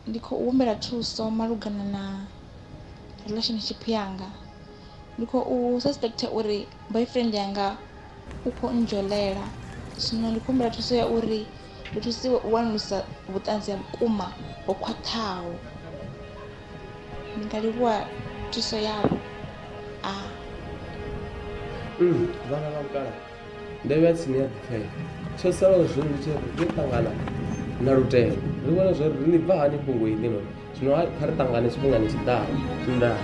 Ndi khou humbela thuso malugana na relationship yanga, ndi khou suspect uri boyfriend yanga u kho ndzholela zwino ndi khou humbela thuso ya uri ndi thusiwe u wanulusa vhuṱanzi ha vhukuma ho khwaṱhaho. Ndi nga livhuwa thuso yavho . Ndo vha tsini ya ḓipfela tsho salaho zwino ndi tshi ri ri ṱangana na lutendo ri vhone zwo ri ni bva hani fhungo iḽi no zwino ha- kha ri ṱangane tshifhingani tshi ḓaho ndaa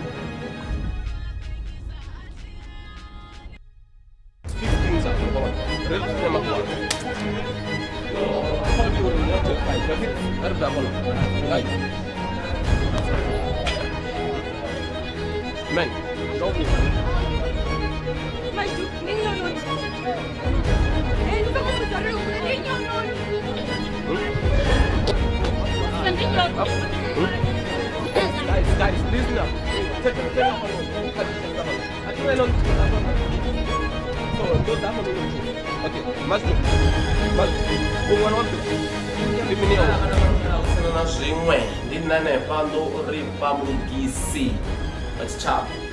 zwiṅwe ndi nṋe hanefha ndo ri vha mulugisi wa tshitshavha